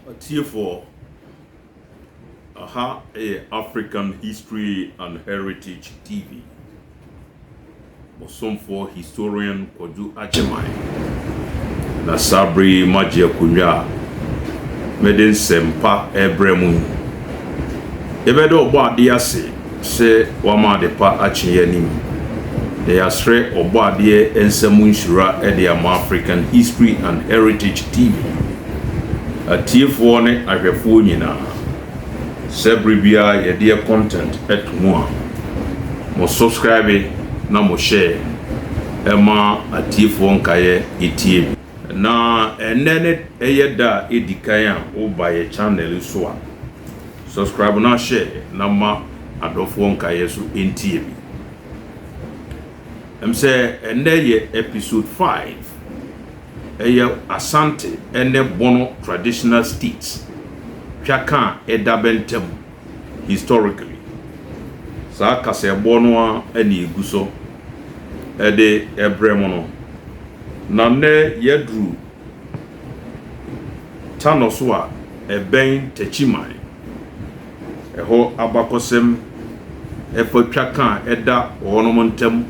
Atiefoɔ, Aha yɛ African History and Heritage TV. Mosomfoɔ Historian Kwadwo Agyemang na saa berɛ yi magye akonnwa a mede nsɛmpa rebrɛ mo yi. Yɛbɛda Ɔbɔadeɛ ase sɛ wama adepa akye yɛn anim, na yɛasrɛ Ɔbɔadeɛ nsa mu nhyira de ama African History and Heritage TV atiefoɔ ne ahwɛfoɔ nyinaa, sɛ bere biara yɛdeɛ content to mu a, mo subscribe na mo share ɛma atiefoɔ nkaeɛ ɛtie bi. Na ɛnnɛ ne ɛyɛ da a ɛdikan a woba yɛ channel yi so a. Subscribe na share na ma adɔfoɔ nkaeɛ so ntie me. Ɛm sɛ ɛnɛ yɛ episode five. Ɛyɛ Asante ɛne Bono traditional states twaka a ɛda bɛ ntɛm historically. Saa kasɛɛbɔ no ara ɛna ɛgu so ɛde ɛbrɛ mo no. Na nnɛ yɛaduru Tanoso a ɛbɛn Techiman. Ɛhɔ abakɔsɛm ɛfa twaka a ɛda wɔnom ntam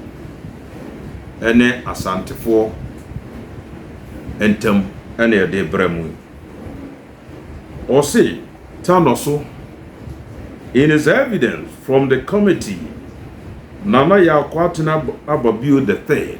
ne Asantefoɔ ntam na ɛde brɛ mo yi. Ɔse Tanoso in his evidence from the committee Nana Yaw Kwatena Ababio the third,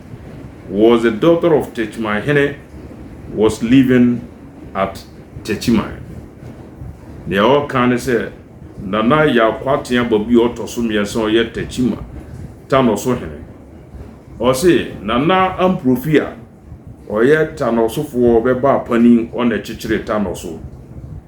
was a daughter of Techiman hene was living at Techiman. Nea ɔka ne sɛ Nana Yakoatea Babu a ɔtɔ so mmiɛnsa a ɔyɛ Techima Tanɔso hene. Ɔse Nana Amprofi a ɔyɛ Tanɔsofoɔ bɛbaa panin ɔna ɛkyekyeree Tanɔso.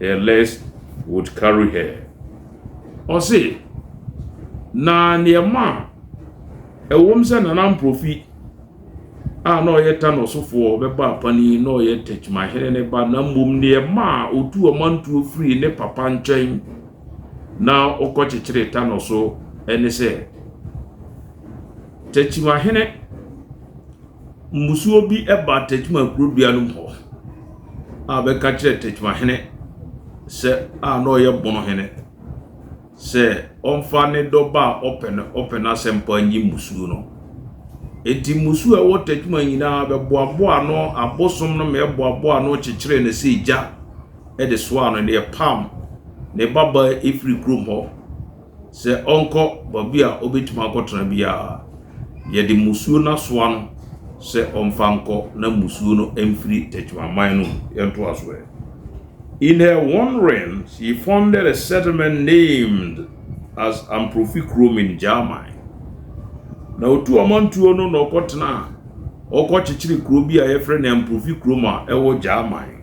her legs would carry her. Ɔse, na neɛ ɛma a ɛwom sɛ Nana Mprofi a na ɔyɛ Tano ɔsofoɔ bɛba apanin na ɔyɛ Tekyimahene ne ba na mmom neɛ ɛma a ɔtu ɔmantuo firi ne papa nkyɛn na ɔkɔkyekyere Tano so ne sɛ Tekyimahene mmusuo bi baa Techiman kuro dua no mu hɔ a bɛka kyerɛɛ Techiman hene sɛ a na ɔyɛ Bono hene sɛ ɔmfa ne dɔba a ɔpɛ no ɔpɛ no asɛmpa nyi mmusuo no. Enti mmusuo a ɛwɔ Techiman nyinaa bɛboaboa ano abosom no ma ɛboaboa ano kyekyeree no sɛ egya de soaa no na ɛpam ne babaa ɛfiri kurom hɔ. sɛ ɔnkɔ baabi a obetumi akɔtena biara, yɛde mmusuo no asoa no sɛ ɔmfa nkɔ na mmusuo no mfiri Techimanman no mu. Yɛntoa so ɛ. In her wandering, she founded a settlement named as Amprofi Kurom in Gyaaman. Na ɔtu ɔmantuo no na ɔkɔtenaa, ɔkɔkyekyeree kuro bi a yɛfrɛ no Amprofi Kurom a ɛwɔ Gyaaman.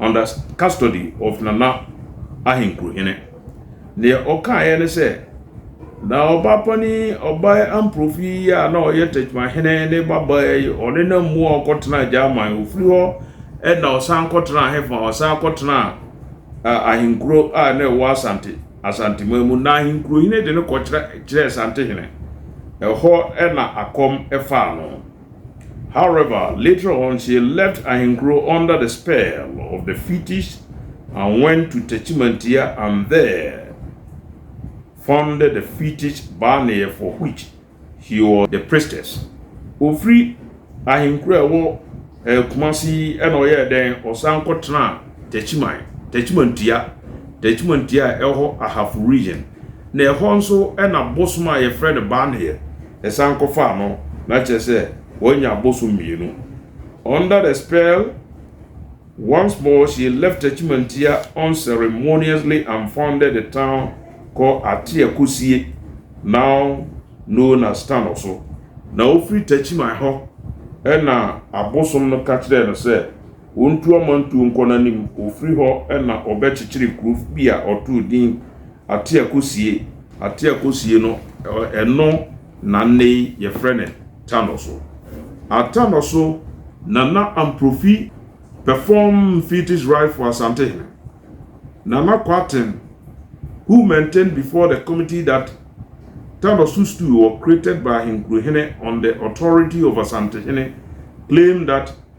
under custody of Nana Ahenkurohene. Deɛ ɔkaeɛ ne sɛ, Na ɔbaa panin, ɔbaa Amprofi yi a na ɔyɛ Tɛkyemahene ne babaa yi, ɔne na mmu a ɔkɔtenaa Gyaman. Ɔfiri hɔ na ɔsan kɔtenaa hefa? Ɔsan kɔtenaa uh, ahenkuro a na ɛwɔ Asante, Asanteman mu. Na Ahenkurohene de no kɔkyerɛ kyerɛɛ Asantehene. Ɛhɔ na akɔm faa no. However, later on she left Ahenkuro under the spell of the fetish and went to Techimantia and there founded the fetish Baneɛ for which she was the priestess. Ɔfiri Ahenkuro a ɛwɔ Kumasi yi na ɔyɛɛ dɛn? Ɔsan kɔtenaa Techiman, Techimantia, Techimantia a ɛwɔ hɔ Ahafo region na ɛhɔ nso na bosom a yɛfrɛ no Baneɛ yɛsan kɔfaa no na kyerɛ sɛ wanya abosom mmienu. Under the spell, once more she left Achimantia unceremoniously and founded the town called Ateakosie, now known as Tanoso. Na ofiri Tachiman hɔ na abosom no ka kyerɛɛ no sɛ ontu amantuo nkɔ n'anim, ofiri hɔ na ɔbɛkyekyeree kuro bi a ɔtoo din Ateakosie, Ateakosie no ɛno na nnɛ yi yɛfrɛ no Tanoso. Atanoso Nana Amprofi perform Mfiti's ride for Asantehene. Nana Kwarteng, who maintained before the committee that Tanoso stool were created by Ahenkurohene on the authority of Asantehene, claimed that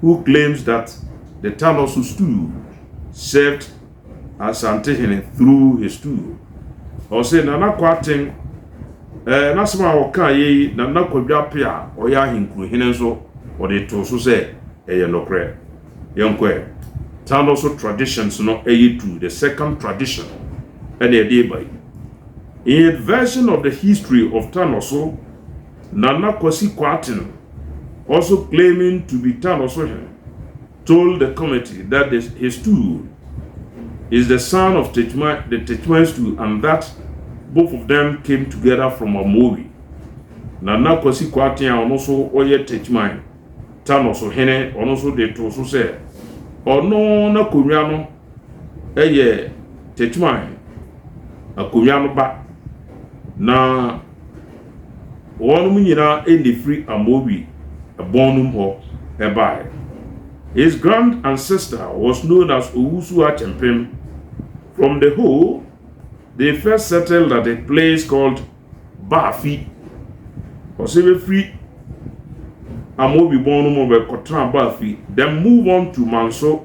who claims that the Taloso stool served Asantehene through his stool. Ɔse Nana Kwarteng eh, n'asɛm a ɔkaa yɛ yi Nana Kwadwoape a ɔyɛ Ahenkurohene nso ɔde too so sɛ ɛyɛ nokorɛ. Yɛnkɔ ɛ. Taloso traditions no ɛyɛ tu, the second tradition ɛna ɛde ba yi. In his version of the history of Taloso, Nana Kwasi Kwarteng, also claiming to be Tanosohene, told the committee that the his stool is the son of Techiman, the Techiman stool and that both of them came together from Amowi. Nana Kwasi Kwarteng a ɔno nso ɔyɛ Techiman, Tanosohene, ɔno nso de too so sɛ ɔno n'akonnwa no yɛ Techiman akonnwa no ba na Wɔnom nyina na efiri Amowi bɔn no mu hɔ baeɛ. His grand ancestor was known as Owusu Akyempem from the Ho, they first settled at a place called Baafi. Ɔsɛ bɛfiri Amowi bɔn no mu bɛkɔtena Baafi, then move on to Manso.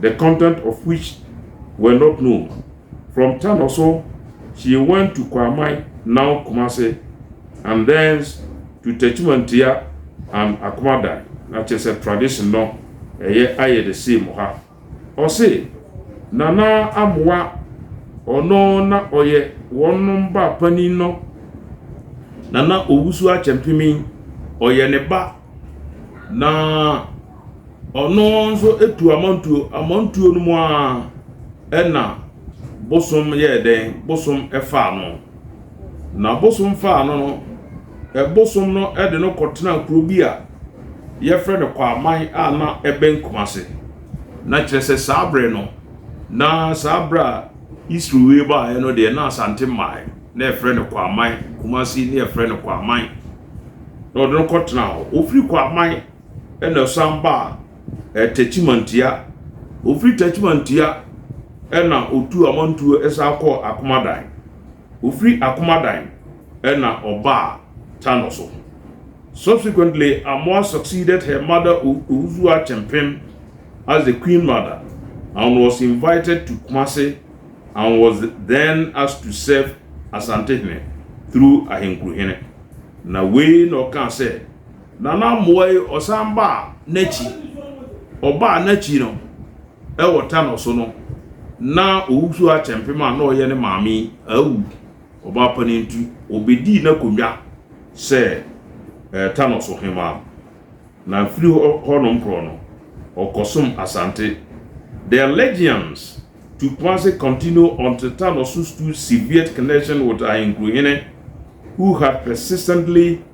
the content of which were not known, from Tanoso she went to Kwamai, now Kumasi, and thence to Techimantia and Akumadai, na kyerɛ sɛ tradition no ɛyɛ ayɛ the same ha. Ɔse, Nana Amoa, ɔno na ɔyɛ wɔnom ba panin no. Nana Owusu Akyɛmpemi, ɔyɛ ne ba, na. Ɔno nso tuu amantuo, amantuo no mu ara ɛna bosom yɛɛ dɛn? Bosom faa no. Na bosom faa no no, bosom no de no kɔtenaa kuro bi a yɛfrɛ no Kwaman a na ɛbɛn Kumase. Na kyerɛ sɛ saa berɛ no, na saa berɛ a Isrewe baeɛ no deɛ na Asante mmaeɛ, na yɛfrɛ no Kwaman, Kumase na yɛfrɛ no Kwaman. Na ɔde no kɔtenaa hɔ. Ɔfiri Kwaman na ɔsan baa eh, Takyimantua. Ɔfiri Takyimantua na ɔtuu amantuo san kɔɔ Akomadan. Ɔfiri Akomadan na ɔbaa Tano so. Subsequently, Amoah succeeded her mother Owusu Akyempem as the Queen Mother and was invited to Kumasi and was then asked to serve Asantehene through Ahenkuruhene. Na wei na ɔkaa sɛ, Nana Mmoayi ɔsan baa n'akyi, ɔbaa n'akyi no wɔ tanɔ so no na Owusu Akyɛmpem a na ɔyɛ ne maame awu, ɔbaa panin nti ɔbɛdii n'akonnwa sɛ tanɔ so hemaa na firi hɔ nom korɔ no ɔkɔsom Asante. The allegiance to Kumasi continued until Tanɔ so stood severed connection with Ahenkurohene who had persistently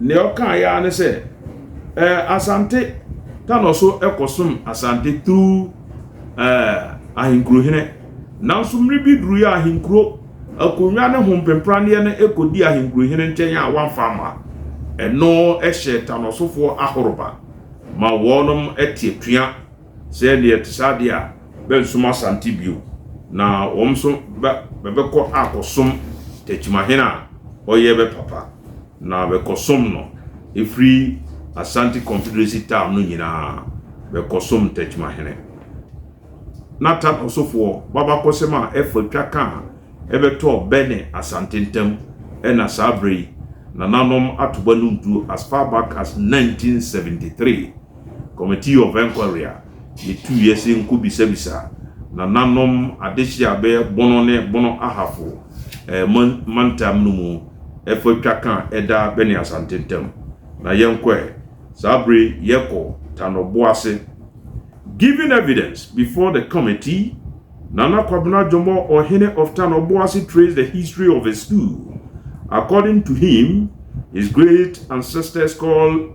Nea ɔkaeɛ ara ne sɛ, eh, Asante ta no so kɔsom Asante through eh, ahenkurohene. Nanso mmere bi duruiɛ a ahenkuro akonnwa ne hompempraneɛ no kɔdi ahenkurohene nkyɛn a wamfa amma. Ɛno hyɛɛ ta no sofoɔ ahoroba ma wɔnom te atua. Sɛ ɛyɛ deɛ ɛte saa deɛ a, bɛrensom Asante bio, na wɔn nso bɛ, bɛbɛkɔ akɔsom Takyimahen a ɔyɛ bɛ papa, na bɛkɔsom no, ɛfiri Asante Confederacy town no nyinaa, bɛkɔsom Takyimahen. Na Tana Osofoɔ b'abakɔsɛm a ɛfa twa ka a ɛbɛtɔɔ bɛ ne Asante ntam ɛna saa berɛ yi, nananom ato bɛ no ntuo as far back as 1973. Committee of Enquiry a yetuiɛ se nkobisabisa nananom adehyeɛ a bɛyɛ Bono ne Bono Ahafo ɛɛ mantam no mu ɛfa twa ka a ɛda bɛ ne Asante ntam. Na yɛnkɔ ɛ. Saa bere yi yɛkɔ Tano Bo ase. Giving evidence before the committee, Nana Kwabena Jomoh Ohene of Tano Bo ase traced the history of his school. According to him, his great ancestors called.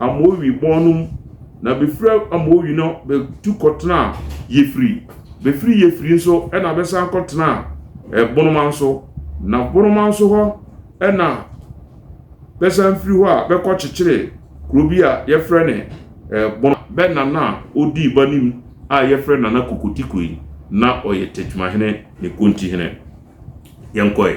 Amoewi bɔn no mu, na befura Amoewi no betu kɔtenaa Yefri, befiri Yefri nso na bɛsan kɔtenaa Bonoman so, na Bonoman so hɔ na bɛsan firi hɔ a bɛkɔkyekyeree kuro bi a yɛfrɛ ne Bonoman. Bɛ nana a odii b'anim a yɛfrɛ Nana Kokotikoi, na ɔyɛ Tɛkyimahene ne Kontihene. Yɛnkɔe.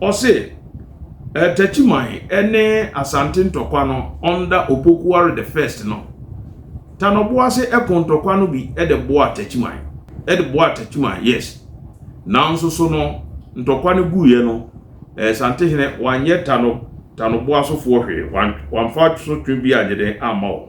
Ɔse Takyiman ne Asante ntɔkwa no under Opokuware the first no, Tanɔboase ko ntɔkwa no bi de boaa Takyiman, de boaa Takyiman, yes. Nanso so no, ntɔkwa no guiɛ no, Santehene wanyɛ Tanɔ, Tanɔboasofoɔ hwee, wamfa so twe bi anyɛ dɛn amma wɔn.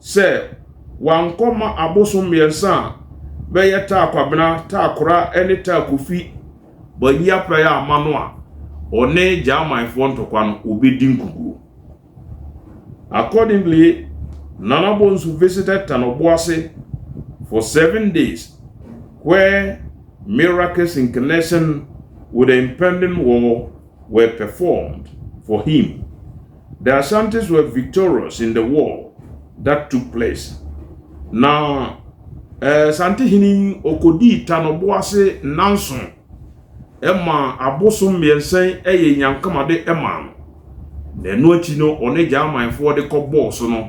sɛ wankɔ ma abosom mmiɛnsa a bɛyɛ Taa Kwabena, Taa Kora ne Taa Kofi Bayi aprae amma no a, ɔne Gyamanfoɔ ntɔkwa no wɔbɛdi nkukuo. Accordingly, Nana Bonsu visited Tanoboase for seven days where miraculous in connection with the impending war were performed for him. The Asantes were victorious in the war that took place. Na Asante hene yi ɔkɔdii Tanɔbo ase nnanson ma abosom mmiɛnsa yi yɛ Nyankamade maa no. Na ɛno akyi no ɔne Gyamanfoɔ de kɔbɔɔ so no,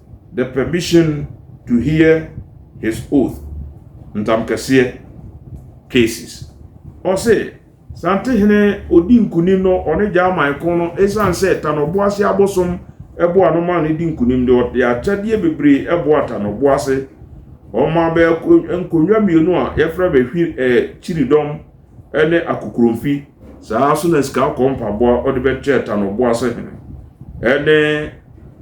The Permission to Hear His Oath, Ntamkɛseɛ, Cases. Ɔse, Sante hene odi nkunim no ɔne Gyaman ko no esiane sɛ Tanɔboase abosom boa no maa no di nkunim de ɔde akyɛdeɛ bebree boa Tanɔboase. Ɔmaa bɛ nkonnwa mmienu a yɛfrɛ bɛ hwi, eh, kyiridɔm. ne akokuromfi, saa ara nso na sika akɔ mpaboa wɔde bɛto ɛta no ɔboa sɛ hene, ɛne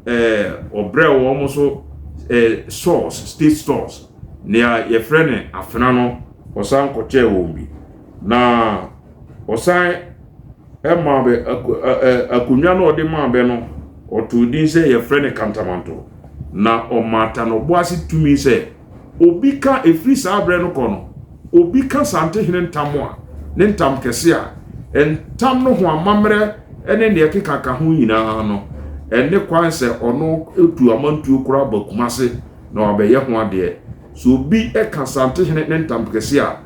ɛɛ ɔbrɛ wɔn nso ɛɛ stores state stores nea yɛfrɛ ne afena no ɔsan kɔkyɛɛ wɔn bi na ɔsan ɛmaa bɛ akonnwa no ɔde maa bɛ no ɔtoo din sɛ yɛfrɛ ne kantamanto na ɔmaa ta no ɔboa se tumi sɛ. Obi ka, ɛfiri saa berɛ no kɔ no, obi ka Santehene ntam a, ne ntam kɛse a, ntam no ho amammerɛ ne deɛ ɛkeka ka ho nyinaa no, ɛne kwan sɛ ɔno tu amantuo koraa ba Kumase na wabɛyɛ ho adeɛ. Sɛ obi ka Santehene ne ntam kɛse a,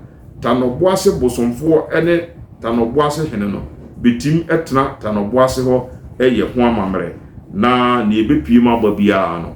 Tanɔboase bosomfoɔ ne Tanɔboase hene no bɛtim tena Tanɔboase hɔ yɛ ho amammerɛ, na deɛ ɛbɛpiem aba biara no,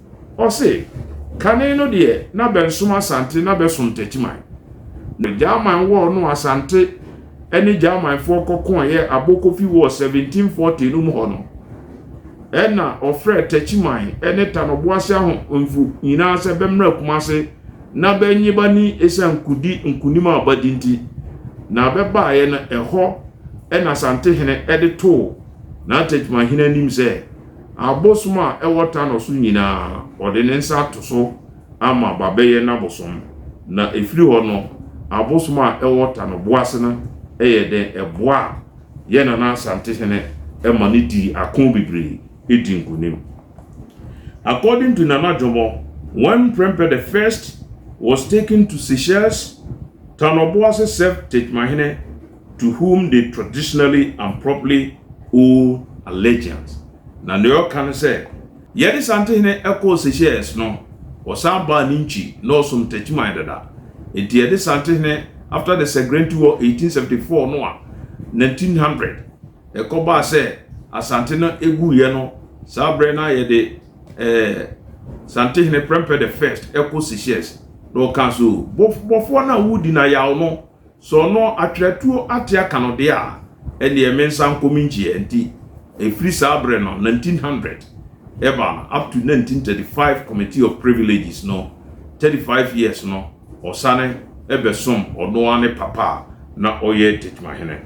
Ɔse, Kane no deɛ na bɛnsom Asante na bɛsom Techiman. Na German war no a Asante ne Germanfoɔ kɔkooeɛ Abokofi war 1740 no mu hɔ no, ɛna ɔfrɛɛ Techiman ne Tanoboase Ahemfo nyinaa sɛ bɛmmra Kumase na bɛnnye bani esiane kodi nkonim a badi nti. Na bɛbaeɛ no, ɛhɔ na Asantehene de too na Techimanhene anim sɛ, Abosom a ɛwɔ Tanor so nyinaa, ɔde ne nsa ato so ama Babɛyɛ n'abosom, na ɛfiri hɔ no, abosom a ɛwɔ Tanor-Boase no yɛ dɛn? Ɛboaa yɛn Nana Asante Hene ma no dii ako bebree dii nkonim. According to Nana Jomo, when Mprempeh the First was taken to Seychelles, Tanor-Boase served Techiman Hene to whom they traditionally and properly owe allegiance. Na nea ɔka ne sɛ, Yɛde Santehene kɔɔ Seychelles no, ɔsan baa ne nkyi na ɔsom Techiman dada. Enti yɛde Santehene after the Segrentu War 1874 no a 1900 ɛkɔbaa sɛ Asante no guiɛ no, saa berɛ no ara yɛde eh, Santehene Prempeh the First kɔ Seychelles. Na ɔkaa so, Bɔfoɔ no a wodi no ayaw no, Sɛ ɔno atwerɛ atuo ate aka no deɛ a, ɛnneɛ mensan nkɔ me nkyi ɛ. Nti ɛfiri saa berɛ no, 1900, ɛbaa no up to 1935 Committee of Privileges no, 35 years no, ɔsane bɛsom ɔno ara ne papa a na ɔyɛ Tekyemahene.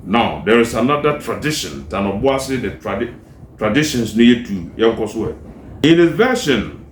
Now there is another tradition than Oboase the tradi traditions no yɛ two yɛnkɔ so ɛ. In his version,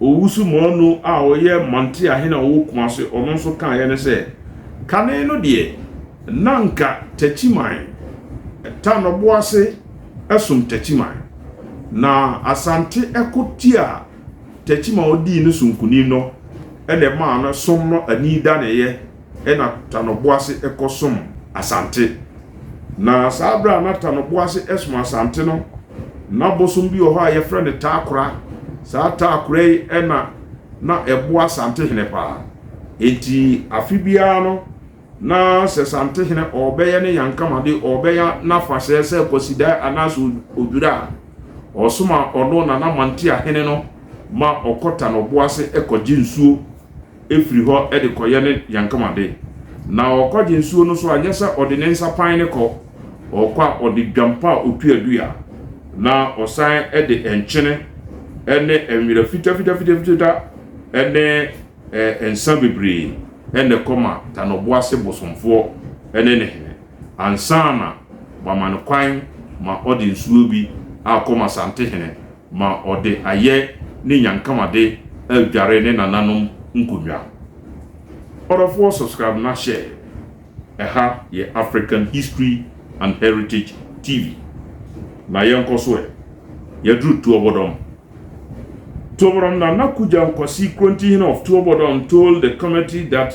Owusu Moanu a ɔyɛ Mantse ahene a ɔwɔ Kumase, ɔno nso kaeɛ ne sɛ, Kane no deɛ, na anka Takyiman, Tanoboase som Takyiman, na Asante ko tiaa Takyiman a ɔdii no so nkunim no na ɛmaa no som no anidaneeɛ. Ɛna Tano Boase kɔ som Asante. Na saa berɛ a na Tano Boase som Asante no, na bosom bi wɔ hɔ a yɛfrɛ no Taakora. Saa Taakora yi na na ɛboa Asantehene paa. Enti afe biara no, na sɛ Santehene ɔrebɛyɛ ne Yankamade, ɔrebɛyɛ n'afahyɛ sɛ Kwasidae anaasɛ Odwira a, ɔsoma ɔno Nana Mantiahene no ma ɔkɔ Tano Boase kɔgye nsuo. firi hɔ de kɔyɛ ne yankamade. Na ɔrekɔgye nsuo no so a, nyɛ sɛ ɔde ne nsa pan no kɔ, ɔkɔ a ɔde dwampa a ɔtuadua, na ɔsan de nkyene ne nwera fitafitafitafita ne nsã bebree na ɛkɔ ma Tanɔboase bosomfoɔ ne ne hene, ansa na wɔama no kwan ma ɔde nsuo bi akɔ ma Santehene. ma ɔde ayɛ ne nyankamade adware ne nananom nkonnwa. Ɔdɔfoɔ subscribe na share, ɛha yɛ African History and Heritage TV na yɛnkɔ so ɛ, yɛaduru Tuobodom. Tuobodom Nana Kugyam Kwasi Krontihene of Tuobodom told the committee that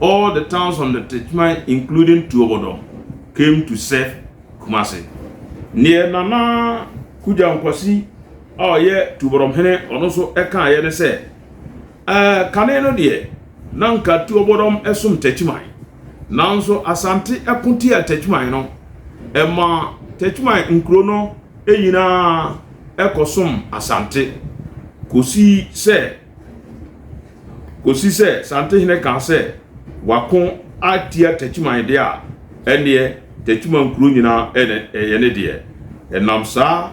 All the towns on the Techiman including Tuobodom came to serve Kumasi. Neɛ Nana Kugya Nkwasi a ɔyɛ Tuobodom hene ɔno nso kaeɛ ne sɛ, Ɛɛ, kane no deɛ, na anka Tuobodom som Techiman, nanso Asante ko tiaa Techiman no, ɛmaa Techiman nkuro no nyinaa kɔsom Asante kɔsii sɛ, Kɔsi sɛ Santehene kaa sɛ wako atia Takyiman deɛ a, ɛnneɛ Takyiman kuro nyinaa ɛna ɛyɛ ne deɛ. Ɛnam saa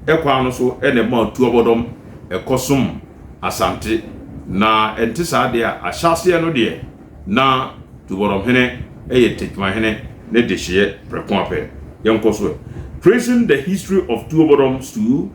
ɛkwan no so ɛna ɛmaa Tuabɔdɔm ɛkɔsom Asante. Na ɛnte saa deɛ a, ahyɛaseɛ no deɛ, na Tuabɔdɔmhene ɛyɛ Takyimanhene ne dehyeɛ prɛko ara pɛ. Yɛnkɔ so ɛ. Tracing the history of Tuabɔdɔm stool.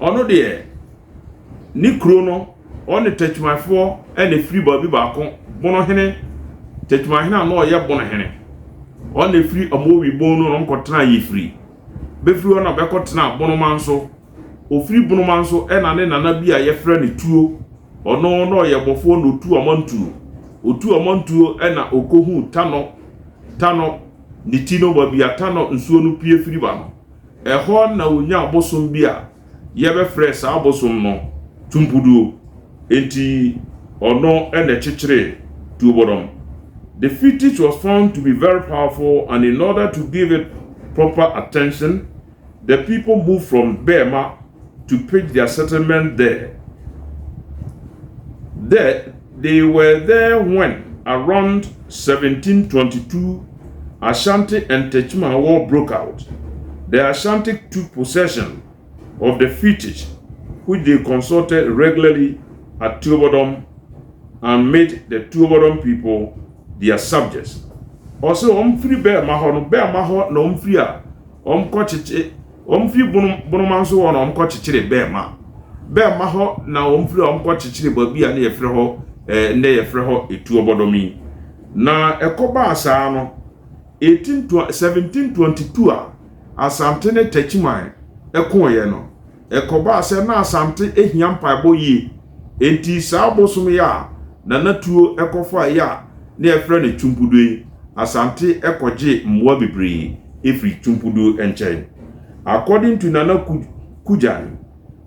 Ɔno deɛ, ne kuro no, ɔne Tɛkyumaefoɔ na ɛfiri baabi baako, Bonohene, Tɛkyumahene a na ɔyɛ Bonohene. Ɔno na ɛfiri Amowi Bon no na ɔkɔtenaa Yefiri. Bɛfiri hɔ na bɛkɔtenaa Bonomanso. Ɔfiri Bonomanso na ne nana bi a yɛfrɛ no Tuo, ɔno na ɔyɛ bɔfoɔ na ɔtu amantuo. Ɔtu amantuo na ɔkɔhuu Tanɔ, Tanɔ, ne ti no, baabi a Tanɔ nsuo no pue firi ba no. Ɛhɔ na wonyaa bosom bi a yɛbɛfrɛɛ saa bosom no Tumpuduo. Enti ɔno na ɛkyekyeree Tuobɔdɔm. The fetish was found to be very powerful and in order to give it proper attention, the people moved from Bɛɛma to pitch their settlement there. There, they were there when around 1722, Ashanti Ntecma war broke out, the Ashanti took possession of the Fitich which they consulted regularly at Tuobodom and made the Tuobodom people their subjects. Ɔsɛ wɔn firi bɛɛma hɔ no bɛɛma hɔ na wɔn firi a wɔn kɔ kyekye wɔn firi bonom bonoma nso hɔ na wɔn kɔ kyekyere bɛɛma bɛɛma hɔ na wɔn firi a wɔn kɔ kyekyere baabi a ne yɛfrɛ hɔ ɛɛ nnɛ yɛfrɛ hɔ etuobɔdɔm yi. Na ɛkɔbaa saa no, 1722 a Asante ne Techiman koeɛ no, ɛkɔbaa sɛ na Asante hia mpaebɔ yie, enti saa bosom yi a Nana Tuo kɔfaeɛ a na yɛfrɛ no Twumpuduo yi, Asante kɔgyee mmoa bebree firii Twumpuduo nkyɛn. According to Nana Kujan,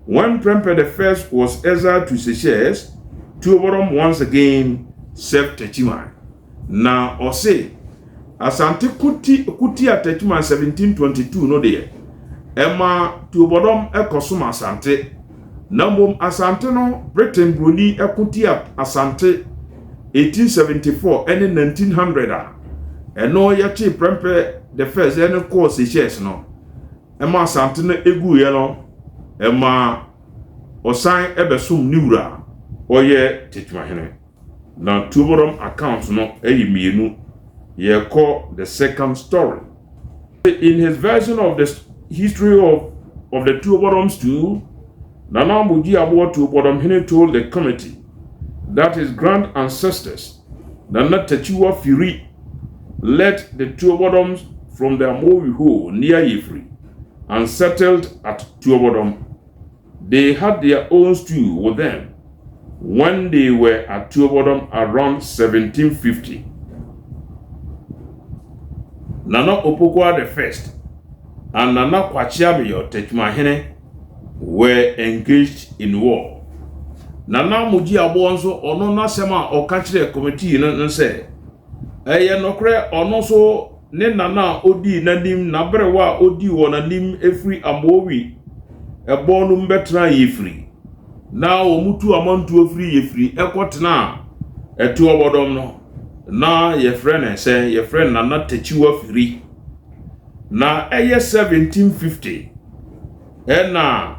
One Prempeh the First was exiled to Seychelles, Tuobodom once again served Techiman. Na ɔse Asante ko ti ko tia Techiman 1722 no deɛ, ɛma Tuobodom kɔsom Asante. Na mmom Asante no, Britain buroni ko tia Asante 1874 ne 1900 a ɛno yɛkyee Prempeh the First ne kɔɔ Seychelles no. ma asante no guiɛ no, ɛma ɔsan bɛsom ne wura a ɔyɛ Tetemahene. Na Tuobodom account no yɛ mmienu. Yɛkɔ the second story. In his version of the history of, of the Tuobodoms too, Nana Amoji Aboa Tuobodomhene told the committee that his grand ancestors Nana Takyiwa Firi led the Tuobɔdɔms from the Amowi hole near Yefiri and settled at Tuobɔdɔm. They had their own stew with them when they were at Tuobɔdɔm around 1750. Nana Opokuaa the First and Nana Kwakyeabeyo Tekyimahene were engaged in war. Nana Mogyi Aboɔ nso ɔno n'asɛm a ɔka kyerɛɛ committee no ne sɛ, Ɛyɛ nokorɛ ɔno nso ne Nana a ɔdii n'anim n'aberewa a ɔdii wɔn anim firi Amoawi ɛbɔn no mu bɛtenaa Yefiri na wɔn tu amantuo firi Yefiri kɔ tenaa Ɛtoɔbɔdɔm no na yɛfrɛ no sɛ yɛfrɛ no Nana Takyiwa Firi. na ɛyɛ 1750 na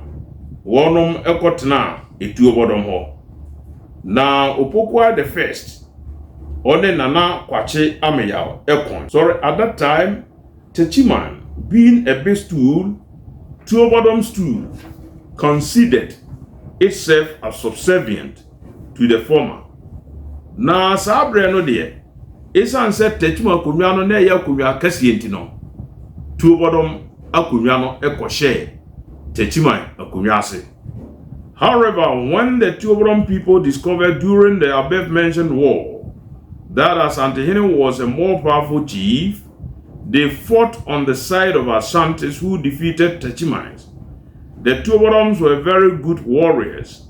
wɔnom kɔtenaa Etuobɔdɔm hɔ. Na Opokuaa the First ɔne Nana Kwakye Ameyaw kɔn. Sorry at that time Techiman being a big stool, Tuobɔdɔm stool considered itself as subservient. to the former. Na saa berɛ no deɛ, ɛsiane sɛ Tetum akonnwa no na ɛyɛ akonnwa akɛseɛ nti no, Tuobɔdɔm akonnwa no kɔhyɛɛ Techiman akonnwa ase. However, when the Tuobɔdɔm people discovered during the above mentioned war that Asantehene was a more powerful chief, they fought on the side of Asantes who defeated Techimans. The Tuobɔdɔms were very good warriors.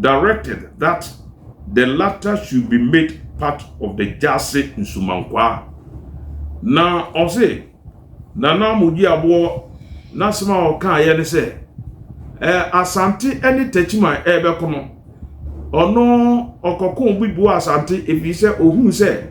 directed that the latter should be made part of the Gyase Nsumankwaa. Na ɔse, Nana Mogyiaboɔ n'asɛm a ɔkaeɛ ne sɛ, eh, Asante ne Takyiman rebɛko no, ɔno ɔkɔkoo bi boaa Asante efiri sɛ ɔhuu sɛ,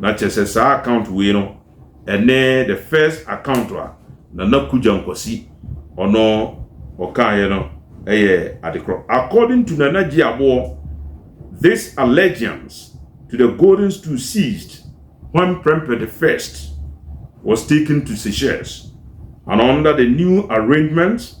Na kyerɛ sɛ saa account wei no ɛne the first account a Nana Kugya Nkwasi ɔno ɔkaeɛ no ɛyɛ adekorɔ. According to Nana Gye Aboɔ, this allegiance to the golden stool ceased when Prempeh the First was taken to Seychelles and under the new arrangements,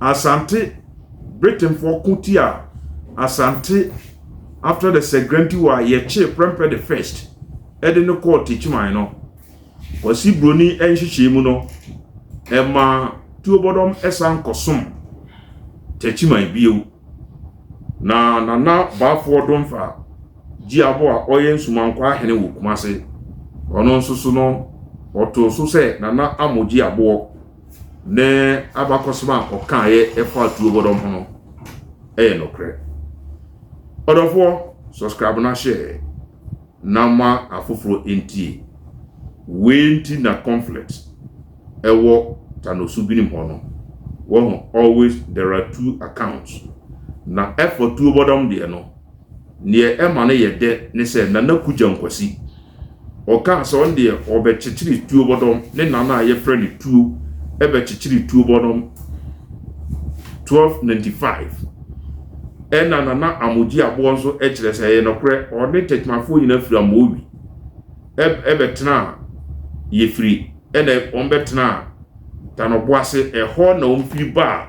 Asante, Britainfoɔ ko tia Asante after the Segranti war a yɛkyee Prempeh the First de no kɔɔ Techiman no. Kwasi Broni nhyehyɛe mu no, ɛma Tuobɔdɔm san kɔsom Techiman bio. Na Nana Baafoɔ Domfa Gyiabo a ɔyɛ Nsumankwa ahene wɔ Kumase, ɔno nso so no, ɔtoo so sɛ Nana Amo Gyiaboɔ. ne abakɔsɛm a ɔkaeɛ ɛfa atuo bɔdɔm ho no ɛyɛ nokorɛ ɔdɔfoɔ subscribe na hyɛ na ma afoforɔ ntie wei nti na conflict ɛwɔ tanosu binom hɔ no wɔho always there are two accounts na ɛfa tuo bɔdɔm deɛ no neɛ ɛma no yɛ dɛ ne sɛ nana kugya nkwasi Ɔkaa sɛ ɔno deɛ ɔbɛkyekyere tuo bɔdɔm ne nana a yɛfrɛ no tuo ɛbɛkyekyere tuo bɔdɔm 1295 ɛna nana amogye aboɔ nso kyerɛ sɛ ɛyɛ nɔkorɛ ɔne tɛkymafoɔ nyina firi amoowi ɛbɛtena a yɛfiri ɛna wɔn bɛtena a tanɔboase ɛhɔ na wɔn firi ba a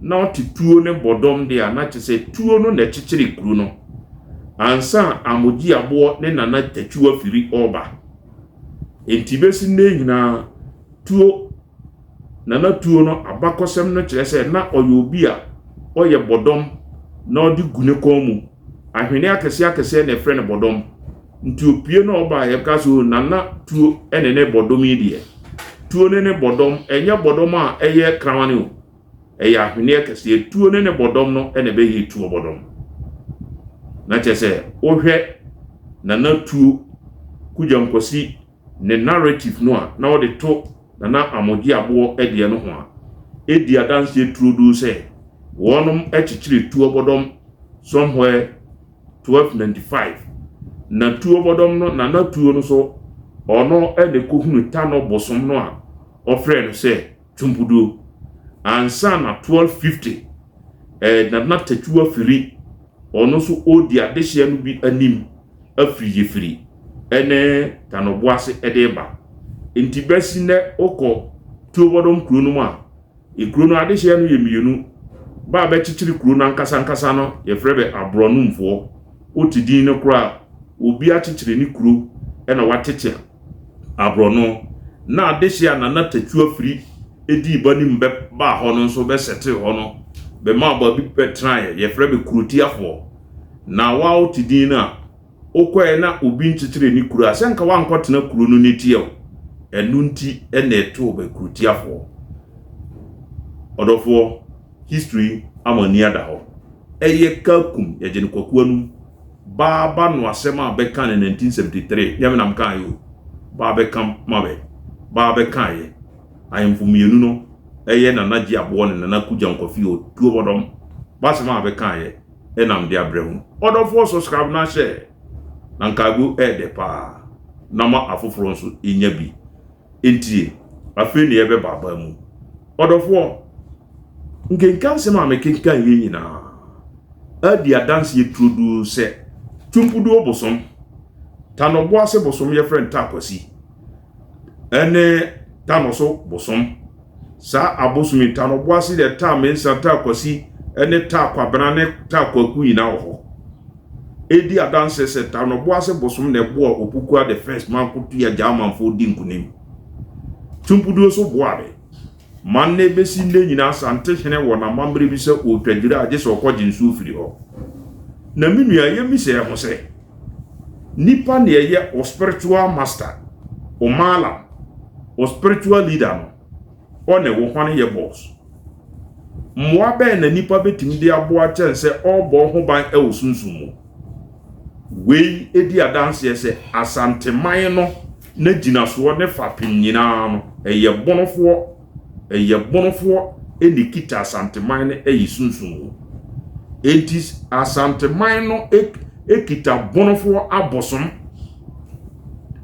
na ɔte tuo no bɔdɔm de a, na kyerɛ sɛ tuo no na ɛkyekyere kuro no ansa Amogyeaboɔ ne Nana Takyiw afiri ɔreba. Enti bɛsi nnɛ nyinaa tuo Nana tuo no abakɔsɛm no kyerɛ sɛ na ɔyɛ obi a ɔyɛ bɔdɔm na ɔde gu ne kɔn mu. Ahweneɛ akɛseɛ akɛseɛ na ɛfrɛ no bɔdɔm. Nti opue na ɔba a yɛka sɛ o Nana tuo ne ne bɔdɔm yi deɛ. Tuo ne ne bɔdɔm, ɛnyɛ bɔdɔm a ɛyɛ krawane o. Ɛyɛ ahweneɛ kɛseɛ. Tuo ne ne bɔdɔm no na ɛbɛyɛ tuo bɔdɔm. Na kyerɛ sɛ wohwɛ Nana tuo, Kugyam Kwasi ne narrative no a na ɔde to Nana Amogye Aboɔ deɛ no ho a, ɛdi adanseɛ turodoo sɛ wɔnom kyekyere tuo bɔdɔm somewhere twelve ninety five na tuo bɔdɔm no nana tuo no so ɔno ɛna ɛkɔhunu tanɔ bosom no a ɔfrɛ no sɛ twompuduo ansa na twelve fifty ɛɛ nana tatua firi ɔno so ɔdi adehyeɛ no bi anim afiri yɛfiri ɛne tanɔboase ɛde ba nti bɛsi nɛ ɔkɔ tuo bɔdɔm kuro no mu a Ekuro no adehyeɛ no yɛ mmienu, bɛ a bɛkyekyere kuro no ankasa ankasa no yɛfrɛ bɛ aborɔnomfoɔ, wote din no koraa a, obi akyekyere ne kuro na watete aborɔno, na adehyeɛ a Nana Tatua firi dii ba nim bɛ baa hɔ no nso bɛ sɛtee hɔ no, bɛmaa baabi bɛtenaeɛ, yɛfrɛ bɛ kurotiafoɔ, na woa wote din no a, wokɔɛ na obi nkyekyeree ne kuro a, sɛ nka woankɔtena kuro no ne teɛ o. Ɛno nti na ɛtoo Bakurotiafoɔ. Ɔdɔfoɔ, history ama ani ada hɔ. Ɛyɛ Kakum, yɛgye no Kwaku Anum, baa ba no asɛm a bɛkaa no 1973, nyɛ me na mekaaeɛ o, baa bɛka ma bɛ, baa bɛkaaeɛ. Ahemfo mmienu no, ɛyɛ Nana Gye Aboɔ ne Nana Kujankwafi Otuobɔdɔm, b'asɛm a bɛkaaeɛ. nam de abrɛ mo. Ɔdɔfoɔ sɔ scrap no ahyɛ na nkago yɛ dɛ paa na ma afoforɔ nso nya bi ntie afei na yɛbɛba aban mu. Ɔdɔfoɔ nkenkan sɛm a mekenkan yɛ nyinaa adi adanseɛ turodoo sɛ Twumpuduo bosom, Tanɔboase bosom yɛfrɛ no Takwasi, ɛne tano so bosom. Saa abosom yi, tano boase dɛ taa mensa, taa kwasi, ɛne taa kwabena ne taa kwaku nyinaa wɔ hɔ. Edi adanse sɛ tano boase bosom na ɛboa Opukua the First ma Nkotoyi Agyamanfoɔ di nkunim. Tumpuduo so boa de, Ma nnɛ bɛsi nnɛ nyinaa Asantehene wɔ n'amammerɛ bi sɛ ɔretwa dwira a gye sɛ ɔkɔgye nsuo firi hɔ. Na me nua, yɛmmisa yɛn ho sɛ, nipa na ɛyɛ wo spiritual master, wo maalam, wo spiritual leader no, ɔne wo hwane yɛ boss? Mmoa bɛn na nipa bɛtumi de aboa kyɛn sɛ ɔrebɔ wo ho ban wɔ sunsum mu? Wei di adanseɛ sɛ Asanteman no N'agyinasoɔ ne fapem nyinaa no, ɛyɛ Bonofoɔ, ɛyɛ Bonofoɔ na ɛkita Asanteman no ɛyɛ sunsum mu. Enti Asanteman no ɛkita Bonofoɔ abosom.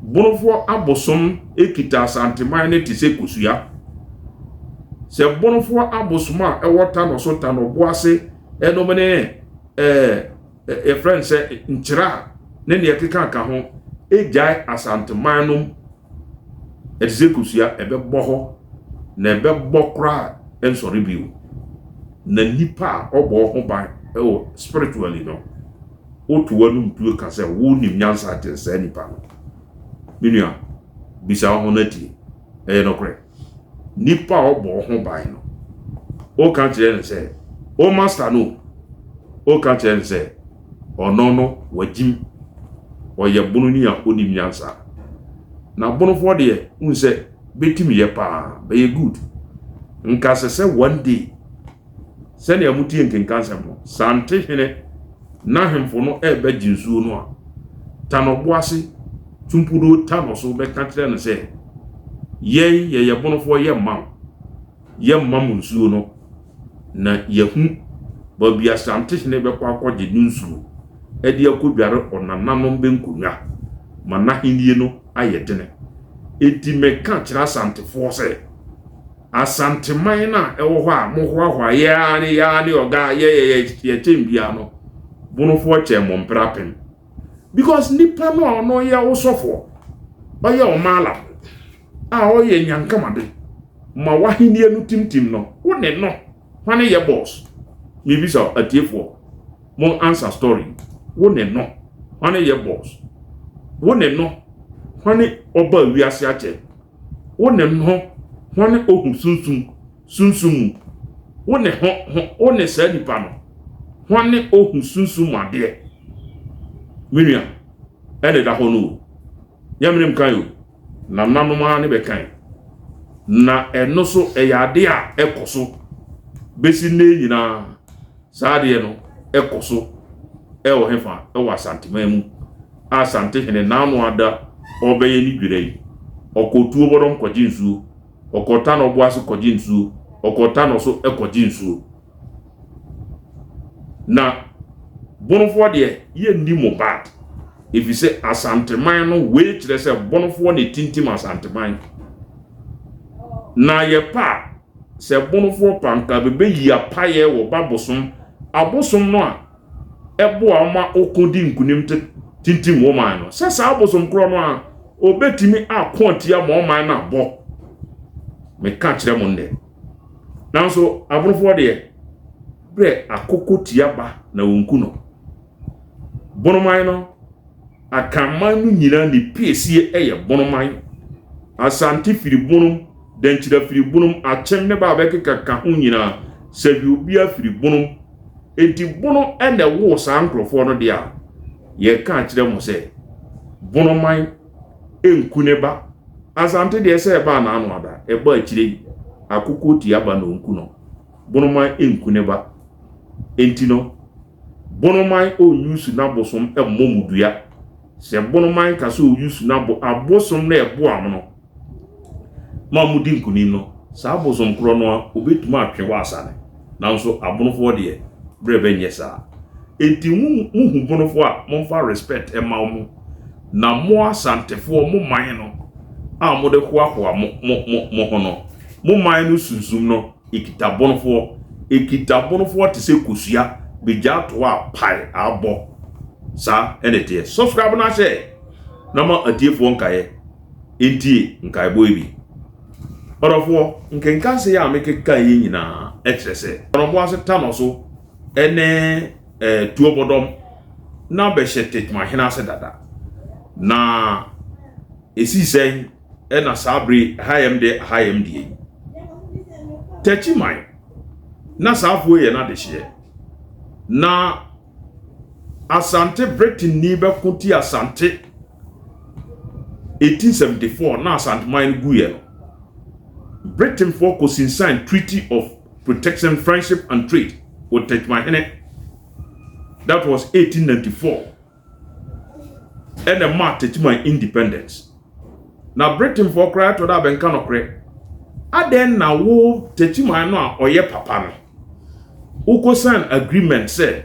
Bonofoɔ abosom ɛkita Asanteman no te sɛ kosua. Sɛ Bonofoɔ abosom a ɛwɔ Tanɔso, Tanɔboase, ɛnom ne ɛɛ. yɛfrɛ no sɛ nkyerɛ a ne nea ɛkeka ka ho gyae asanteman nom ɛte sɛ kosua ɛbɛbɔ hɔ na ɛbɛbɔ koraa nsɔre bio na nipa a ɔbɔ ho ban ɛwɔ spiritually no woto anum tuo ka sɛ wo nim nyansa akyɛn saa nipa no menua bisa ho no atie ɛyɛ nokorɛ nipa a ɔbɔ ho ban no woka kyerɛ no sɛ o master no woka kyerɛ no sɛ ɔno no wagyim ɔyɛ bononi a onim nyansa na bonofoɔ deɛ wohu sɛ bɛtim yɛ paa bɛyɛ good nka sɛ sɛ one day Sɛnea motie nkenka nsɛm no, sɛ ante hene ne ahemfo no rebɛgye nsuo no a, tan ɔbo ase, tu mpuduo ta no so bɛka kyerɛ no sɛ, Yɛn yɛyɛ bonofoɔ yɛmma wo, yɛmma mo nsuo no, na yɛahu baabi a Sante hene bɛkɔ akɔgye ne nsuo de akɔdware ɔnananom bɛnkonnwa ma n'ahennie no ayɛ dene. Enti meka kyerɛ Asantefoɔ sɛ, Asanteman no a ɛwɔ hɔ a mohoahoa yɛ ara ne yɛ ara ne ɔga a yɛyɛ yɛ yɛ kyɛn biara no, bonofoɔ kyɛn mo mpere apem. Because nipa no a ɔno yɛ wo sɔfoɔ, ɔyɛ wo maalam a ɔyɛ nyankamade ma w'ahenniɛ no timtim no, wo ne no hwane yɛ boss? Mebisa atiefoɔ, mo answer story. Wo ne no hwane yɛ boss? Wo ne no hwane ɔba wiase akyɛ? Wo ne ho ho ne ohu sunsum sunsum mu. Wo ne ho ho wo ne saa nipa no ho ne ohu sunsum mu adeɛ. Me nua, ɛna ɛda hɔ no o. Nyɛ menem kan o, nananom ara ne bɛkan. Na ɛno so ɛyɛ adeɛ a ɛkɔ so bɛsi nnɛ nyinaa. Saa adeɛ no ɛkɔ so ɛwɔ hefa? Ɛwɔ Asanteman mu. a Asantehene Nano Adda ɔrebɛyɛ ne dwira yi, ɔkɔ Tuobodom kɔgye nsuo, ɔkɔ Tano Bo ase kɔgye nsuo, ɔkɔ Tano so kɔgye nsuo. Na Bonofoɔ deɛ, yɛnni mo bad, ɛfiri sɛ Asanteman no, wei kyerɛ sɛ Bonofoɔ na ɛtintim Asanteman. Na yɛpɛ a, sɛ Bonofoɔ pɛ a, anka bɛbɛyi apaeɛ wɔ Babosom abosom no a, boa wɔn ma wɔkodi nkonim te tintim wɔn man no. Sɛ saa bosom korɔ no a, wɔbɛtumi ako atia ma wɔn man no abɔ. Meka kyerɛ mo nnɛ. Nanso abonofoɔ deɛ, berɛ akoko tia ba na wɔnku no. Bonoman no. Akanman no nyina ne piesie yɛ bonoman, Asante firi bonom, Dankyira firi bonom, Akyem ne ba a bɛkeka ka ho nyina, Saviobia firi bonom. Enti bono na ɛwoo saa nkorɔfoɔ no deɛ a, yɛka akyerɛ mo sɛ, bonoman nku ne ba. Asante deɛ sɛ ɛba anaa no ada, ɛba akyire yi, akokɔ ɔtua ba na ɔnku no. Bonoman nku ne ba. Enti no, Bonoman ɔnwusu n'abosom mmɔ mu dua. Sɛ bonoman ka sɛ ɔwusu n'abo, abosom no a ɛboa mo no ma modi nkunim no, saa abosom korɔ no ara ɔbɛtumi atwe wɔ asane. Nanso abonofoɔ deɛ, berɛ bɛnyɛ saa. Enti mo mohu bonofoɔ a, momfa respect mma wɔn. Na mo Asantefoɔ, mo man no a mode hoahoa mo ho no, mo man no sunsum no, Ekitabonofoɔ, Ekitabonofoɔ te sɛ kosua begyaa toɔ a pae abɔ saa ɛna ɛteɛ subscribe na hyɛ na ma atiefoɔ nkaeɛ ntie nkaebɔ yi bi ɔdɔfoɔ nkenkanse a mekeka yi nyinaa ɛkyerɛ sɛ ɔdɔfoɔ ase ta no so ɛne eh, tuo bɔdɔm na bɛhyɛ tetmahene ase dada na ɛsii sɛn ɛna saa bere ahayɛm de ahayɛm deɛ yi tɛkyi man na saa afuo yɛ n'adehyeɛ na asante bretini bɛko ti asante eti sɛm de fɔ na asante man no gu yɛ no britain fɔ ko sinsan treaty of protection friendship and trade wɔ tɛkyi man hene that was 1894 ɛna ɛmaa Tete Man independent. Na Britainfoɔ koraa ɛtɔ da bɛnka nokorɛ. Adɛn na wo Tete Man no a ɔyɛ papa no, wokɔ sign agreement sɛ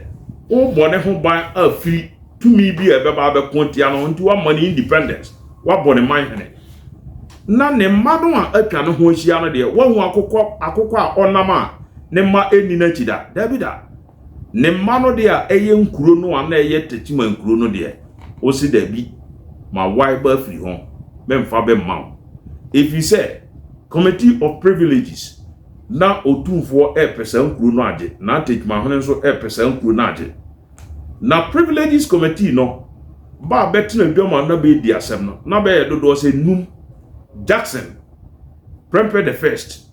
wobɔ ne ho ban afiri tumi bi a ɛbɛba abɛko atia no ho nti woama no independent, woabɔ ne man hene. Na ne mma no a atwa ne ho ahyia no deɛ, woahu akokɔ akokɔ a ɔnam a ne mma ɛnni n'akyi da? Dabi da. Ne mma no deɛ a ɛyɛ nkuro no a na ɛyɛ Techiman nkuro no deɛ, ɔse dabi, ma wae ba afiri ho, memfa bɛ mma wo. Ɛfiri sɛ Committee of Privileges na Otumfoɔ repɛ saa nkuro no agye, na Techimahene nso repɛ saa nkuro no agye. Na Privileges Committee no ba a bɛtena dwam a na bɛredi asɛm no, na bɛyɛ dodoɔ sɛ nnum, Jackson, Prempeh the First,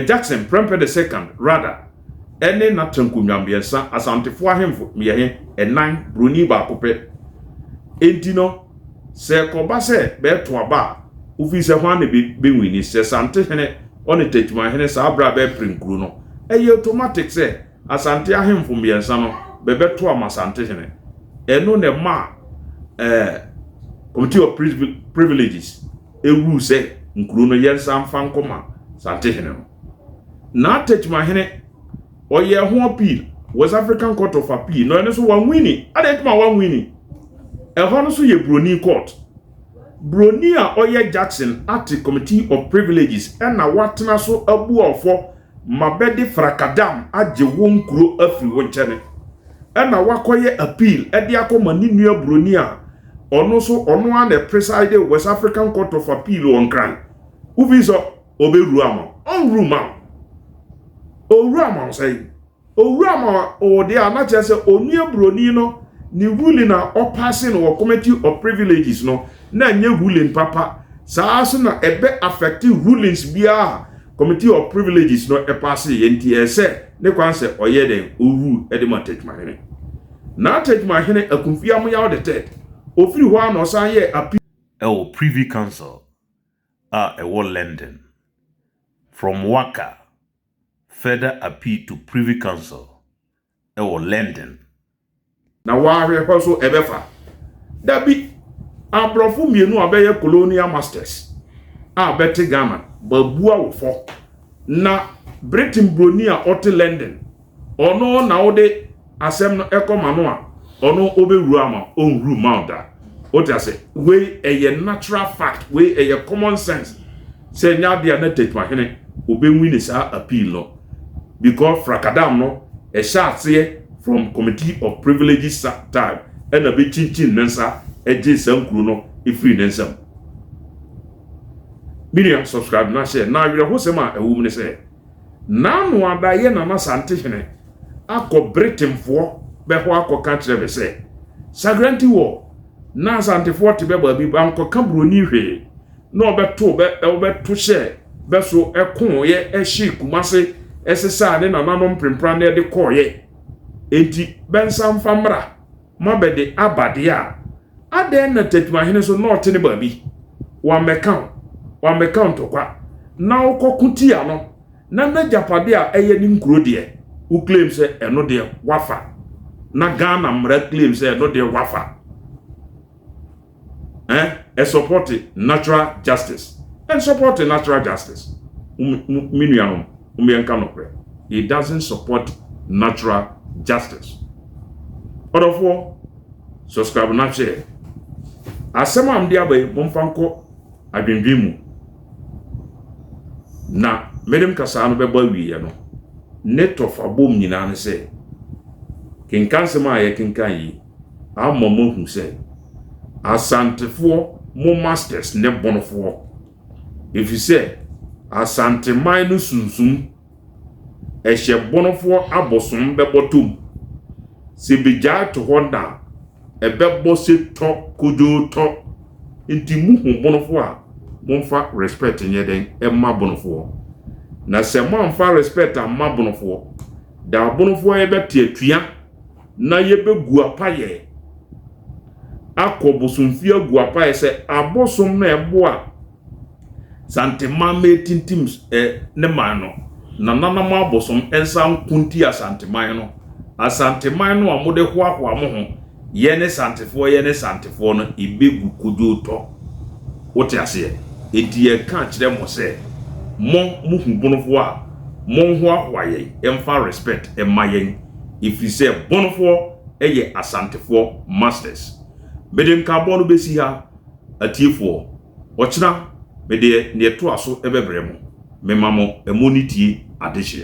Jackson, Prempeh the Second, Rada, ne n'atanku nnwam mmiɛnsa, Asantefo ahemfo mmeɛhe, nnan, Buroni baako pɛ. Enti no, sɛ ɛkɔba sɛ bɛto aba a, wofii sɛ hwan na ebenwini, sɛ Sante hene ɔne Techiman hene saa bere a bɛrepere nkuro no. Ɛyɛ otomatik sɛ Asante ahemfo mmeɛnsa no bɛbɛto ama Sante hene. Ɛno na ɛmaa eh, Committee of Privileges. ɛhuu sɛ nkuro no yɛnsa mfa nkɔ ma Santehene no. Naa Techimanhene ɔyɛɛ ho appeal West African Court of Appeal na ɛno so wanwini. Adɛn nti ma wanwini? Ɛhɔ no so yɛ Broni court. Broni a ɔyɛ Jackson Ate Committee of Privileges ɛna watena so abu ɔfɔ ma bɛde frakadam agye wo nkuro afiri wo nkyɛne. Ɛna wakɔyɛ appeal ɛde akɔ ma ne nua Broni a Ɔno so ɔno ara na preside West African Court of Appeal wɔ Nkran. Wofii sɛ ɔbɛwuru ama wo, ɔnwuru ma wo. Ɔwuru ama wo sɛn? Ɔwuru ama wo deɛ a na kyerɛ sɛ onua buroni no ne ruling a ɔpaase no wɔ Committee of Privileges no na ɛnyɛ ruling papa. Saa nso na ɛbɛ affect rulings biara a Committee of Privileges no paase yɛ nti ɛsɛ ne kwan sɛ ɔyɛ dɛn? Ɔwuru de ma Techiman hene. N'atta adwumahene Akunfie Amoyaw the Third. Ofiri hɔ ara na ɔsan yɛɛ appeal. Ɛwɔ Privy Council a ɛwɔ London. From Waka further appeal to Privy Council ɛwɔ London. Na w'ahwɛ hɔ so ɛbɛfa. Dabi, abrɔfo mmienu a bɛyɛ colonial masters a bɛte Ghana, bɛabua wo fɔ. Na Britain buroni a ɔte London. Ɔno na wode asɛm no ɛkɔma no a, ɔno ɔbɛwura ama ɔnhuru ma wo da. Wote ase? Wei ɛyɛ natural fact, wei ɛyɛ common sense. Sɛ ɛnyɛ adeɛ a na Tetuahene ɔbɛwini saa appeal no because frakadam no ɛhyɛ aseɛ from Committee of Privileges time ɛna bɛkyinkyin ne nsa gyee saa nkuro no firii ne nsam. Me nua subscribe na hyɛ. Na awerɛhosɛm a ɛwɔ mu ne sɛ, Nano Ada yɛ Nana Santehene akɔ Britainfoɔ bɛ hɔ akɔka kyerɛ bɛ sɛ, Sagranti wɔ, na Asantefoɔ te bɛ baabi bankɔka Buroni hwee, na ɔbɛto bɛ, ɔbɛto hyɛɛ bɛ so kooeɛ hyee Kumase sesaa ne nananom prempranneɛ de kɔeɛ. Enti bɛnsa mfa mmra. mabɛde aba deɛ a, adɛn na Tetumahene nso na ɔte ne baabi? Wammɛka wo, wammɛka wo ntɔkwa, na wokɔko tia no, na n'agyapadeɛ a ɛyɛ ne nkuro deɛ, wo claim sɛ ɛno deɛ woafa, na Ghana mmara claim sɛ ɛno deɛ woafa. eh support natural justice and support natural justice me nuanom mo yɛ nka nokorɛ he doesn't support natural justice ɔdɔfoɔ subscribe na hwɛ asɛm a mde aba yi momfa nkɔ adwendwen mu na medem kasaa no bɛbɔ awieɛ no ne tɔfa bom nyinaa ne sɛ kenkan sɛm a yɛkenkan yi ama moahu sɛ Asantefoɔ mo masters ne bonofoɔ ɛfiri sɛ Asanteman no sunsum ɛhyɛ bonofoɔ abosom bɛbɔtɔ mu sɛ bɛgyae to hɔ na ɛbɛbɔ sɛ tɔ kodwoo tɔ nti mohu bonofoɔ a momfa respect nyɛ dɛn ɛma bonofoɔ na sɛ moamfa respect amma bonofoɔ da abonofoɔ yɛbɛte atua na yɛbɛgu apaeɛ akɔ bosomfie agu apaeɛ sɛ abosom no a ɛboa Santeman ma ɛtintim ne man no, na nananom abosom nsa nko nti Asanteman no, Asanteman no a mode hoahoa mo ho, yɛne Santefoɔ, yɛne Santefoɔ no, ɛbɛgu kodwootɔ. Wote aseɛ? Enti yɛreka akyerɛ mo sɛ, mo, mo hubonofoɔ a, monhoahoa yɛn mfa respect mma yɛn. ɛfiri sɛ Bonofoɔ yɛ Asantefoɔ masters. Mede nkaabɔ no bɛsi ha atiefoɔ. Ɔkyena mede deɛ ɛtoa so bɛbrɛ mo. Mema mo ɛmo ne tie adehyeɛ.